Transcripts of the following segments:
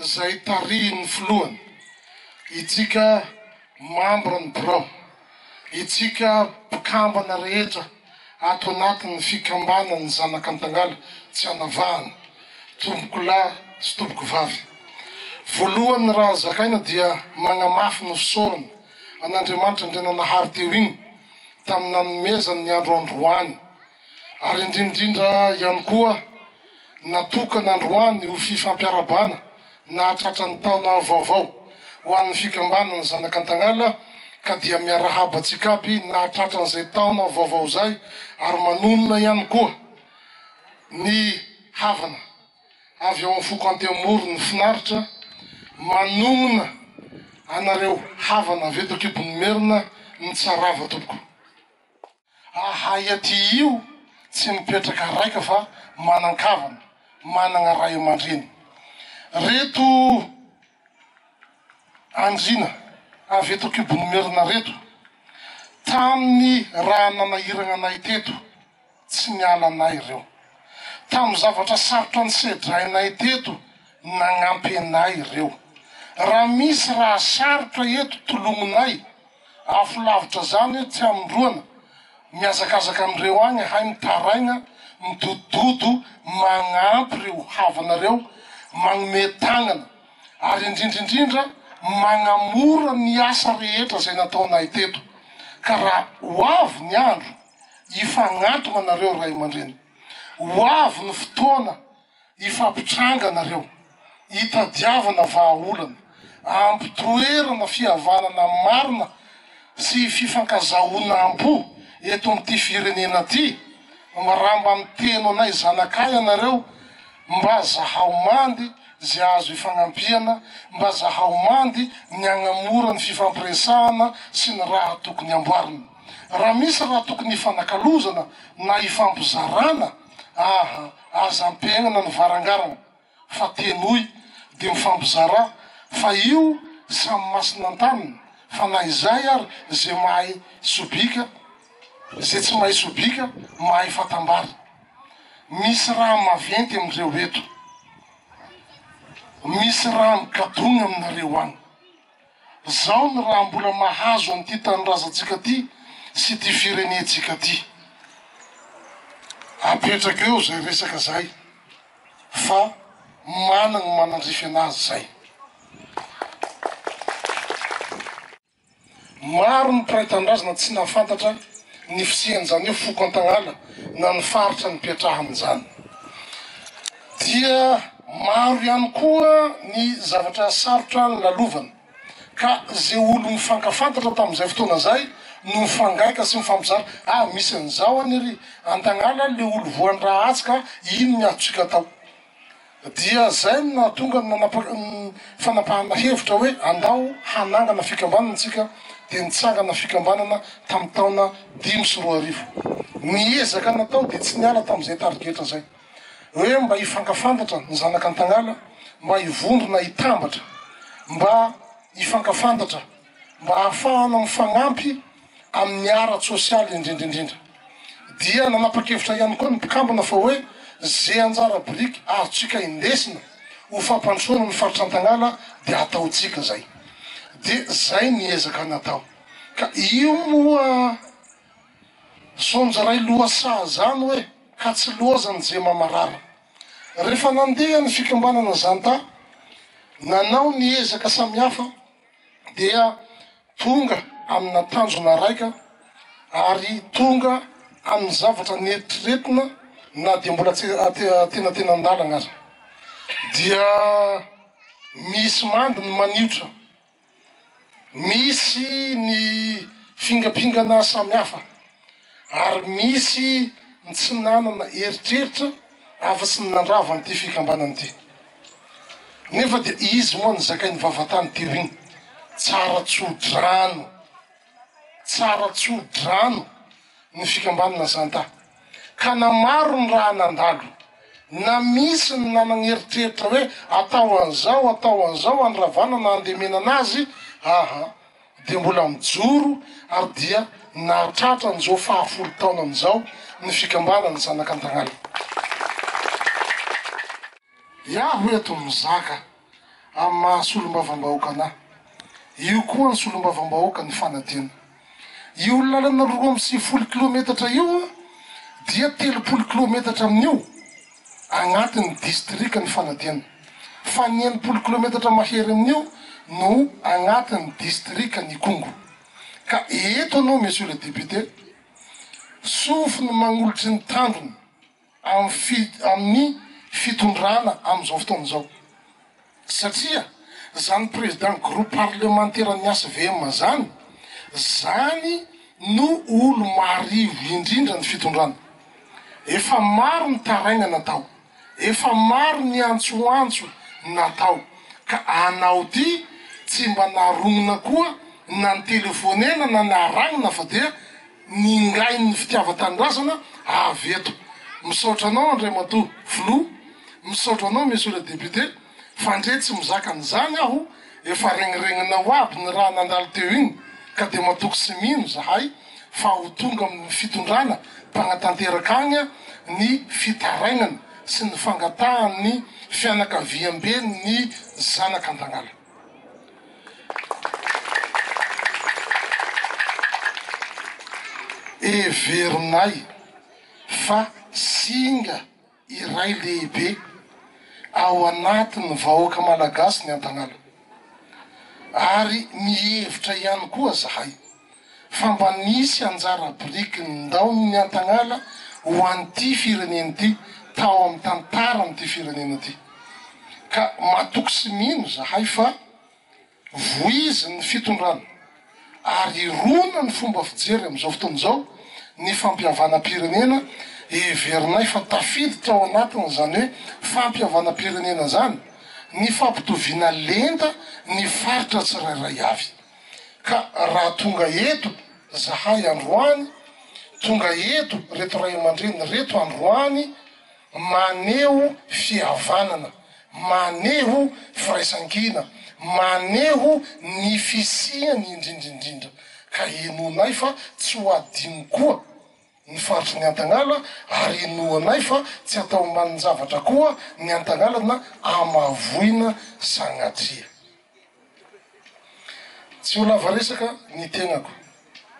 izay tarihin'ny filohany, itsika mambra ny birao, itsika mpikambana rehetra ato anatin'ny fikambanan'ny Zanaka Antangala tsy anavahana, tompoko lahy sy tompoko vavy. Voalohany raha zakaina dia magnamafy ny fisaorana an'Andriamanitra Andriananahary teo igny tamin'ny nanomezany ny andro androany ary indrindrindra ihany koa natokana androany ho fifampiarabana nahatratra ny taona vaovao ho an'ny fikambanana Zanak'Antagnala ka dia miarahaba antsika aby nahatratra an'izay taona vaovao izay ary manonona ihany koa ny havana avy ao amin'ny foko Anteamory ny finaritra manonona anareo havana avy eto an-kibon'ny merina ny tsarava tompoko. Ahay aty io tsy mipetraka raika fa manan-kavana, managna ray aman-dreny. Reto andriana avy eto Kibon'Imerina reto, tamin'ny raha nanahiragna anay teto, tsy niala anay ireo. Tamin'ny zavatra sarotra nisedrainay teto, nagnampy anay ireo. Raha misy raha sarotra eto, tolognonay. Afo lavitra zany tsy amindroana mihazakazaka anreo agny hay mitaraigna midodododo magnampy reo havanareo magnome tagnana ary indrindrindrindra magnamora ny asa rehetra zay nataonay teto ka ra ho avy ny andro hifagnantogna nareo ray amandreny ho avy ny fotoana Hifampitrangana ireo, hitadiavana vahaolana, hampitoerana fihavanana marina sy fifankazahoanam-po eto amin'ity firenena ity. Miramba miteno anay zanakay ianareo mba zahao mandy izay azo hifagnampiana, mba zahao mandy ny hagnamora ny fifampiresahana sy ny raha tokony hamboarina. Raha misy raha tokony hifanakalozana na hifampizarana, aha, Aza ampihenana ny varangarana fa tenoy de mifampizarà fa io samy masina an-taniny fa na izay ary ze mahay sobika ze tsy mahay sobika mahay fatambara misy raha maventy amin'ireo eto misy raha migadogna aminareo agny. Zao ny raha mbola mahazo an'ity tanindrazantsika ity sy ity firenentsika ity. Apetraka eo zay resaka zay fa managny ny manandrify anazy zay. Maro ny mpiray tanindrazana tsy nahafantatra ny fisian'izany hoe foko Antagnala na ny faritra nipetrahany zany. Dia maro ihany koa ny zavatra sarotra nolalovana, ka ze olo mifankafantatra tamin'izay fotoana zay no mifangaika sy mifampizara, ah misy an'izao any ery Antagnana le olo voan'ny raha atsy ka ino ny azontsika atao? Dia zay no nahatonga ny nanapaka ny fanapahana hevitra hoe andao hanangana fikambanana tsika, dia nitsangana fikambanana tamin'ny taona dimy sy roa arivo. Ny ezaka natao dia tsy niala tamin'izay tarigetra zay. hoe mba hifankafantatra ny zanak' Antagnala, mba hivondrona hitambatra, mba hifankafantatra, mba hahafahana mifagnampy amin' ny ara-tsôsialy indrindra indrindra. Dia nanapa-kevitra ihany koa ny mpikambana fa hoe ze anjara biriky azontsika indesina ho fampandrosoana ny Faritra Antagnala dia hataontsika zay. Dia zay ny ezaka natao. Ka io moa. Saonjo ray loha saha zany hoe ka tsy loha zany ze mamarara. Refa nandeha ny fikambanana zanta nanao ny ezaka samihafa dia tonga amina tanjona raika ary tonga aminy zavatra neritreretina na dia mbola tsy atenatenan-dalagna aza. Dia misy mandy ny maniotra. Misy ny fingampingana samihafa ary misy ny tsy nanana eritreritra afa-tsy ny nandrava an'ity fikambanana ity. Nefa dia izy moa nizakain'ny vavatany teo iny, tsara tso-drano. Tsara tso-drano ny fikambanana Zanta, ka na maro ny raha nandalo, na misy ny nanana eritreritra hoe atao an'izao, atao an'izao handravana na handemenana azy, aa dia mbola mijoro ary dia nahatratra an'izao fahafolo taonany izao ny fikambanana Zanak'Antagnala. Iaho eto mizaka amin'ny maha solombavambahoaka anahy. Io koa ny solombavambahoaka ny fanadino. Io lalana roa amby sivifolo kilometatra io dia telopolo kilometatra amin'io agnatin'ny distrikan'i Fanadino fa ny enimpolo kilometatra mahery amin'io no agnatin'ny distrikan'Ikongo. Ka eto anao Monsieur le Député, sofiny magnolotry ny tandrony. amin'ny fitondrana amin'izao fotoana izao. Satria izany Président Groupe Parlementeran'ny HVM izany, izany no olo marivo indrindra ny fitondrana. Efa maro ny taraigna natao, efa maro ny antsoantso natao ka anao ty tsy mba narognona koa na nitelefonena na naragnina fa dia. Ningain' ny fitiavan-tanindrazana avy eto. Misaotra anao Andriamatoa Filoha, misaotra anao Monsieur le Député, fandre tsy mizaka an'izany aho, efa regniregninao aby ny raha nandalo teo iny, ka dia matoky sy mino izahay fa ho tonga amin'ny fitondrana mpanatanteraka agny ny fitarainany sy ny fangatahan'ny fianakaviamben'ny zanak'Antagnala. Heverinay fa singa iray lehibe ao anatin'ny vahoaka Malagasy ny Antanala ary mihevitra ihany koa zahay fa mba nisy anjara biriky ny ndaon'ny Antagnala ho an'ity firenena ity tao amin'ny tantaran'ity firenena ity. Ka matoky sy mino izahay fa voizin'ny fitondrana ary hirona ny fomba fijery amin'izao fotoana izao ny fampihavanam-pirenena heverinay fa tafiditra ao anatin'izany hoe fampihavanam-pirenena izany ny fampitoviana lenta ny faritra tsirairay avy. Ka raha tonga eto zahay androany, tonga eto reto ray aman-dreny reto androany, maneho fihavanana, maneho firaisankina, maneho ny fisiany indrindra indrindra, ka henoinay fa tsy ho adino koa. ny faritry ny Antagnala ary inoanay fa tsy atao ambanin-javatra koa ny Antagnala na amavoina sagnatria. Tsy ho lava resaka ny tenako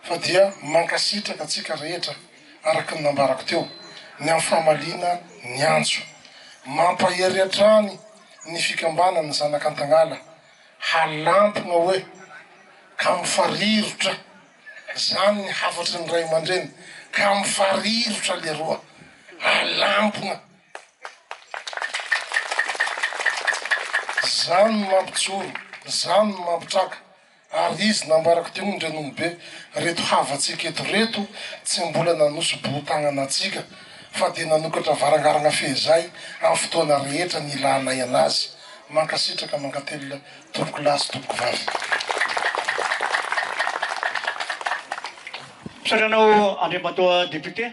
fa dia mankasitraka antsika rehetra araka ny nambarako teo ny amin'ny famaliana ny antso. Mampahery hatrany ny fikambanan'ny zanak'Antagnala halampogna oe ka mifarirotra. Zany ny hafatry ny ray aman-dreny ka mifarirotra leroa alampona. Zany no mampijoro, zany no mampitraka ary izy nambarako teo ny reninibe reto havantsika eto reto tsy mbola nanosi-bohon-tagnana antsika fa dia nanokatra varangaragna fehizay amin'ny fotoana rehetra nilanay anazy. Mankasitraka mankatelina Tompoko lahy sy tompoko vavy. Misaotra anao Andriamatoa Député.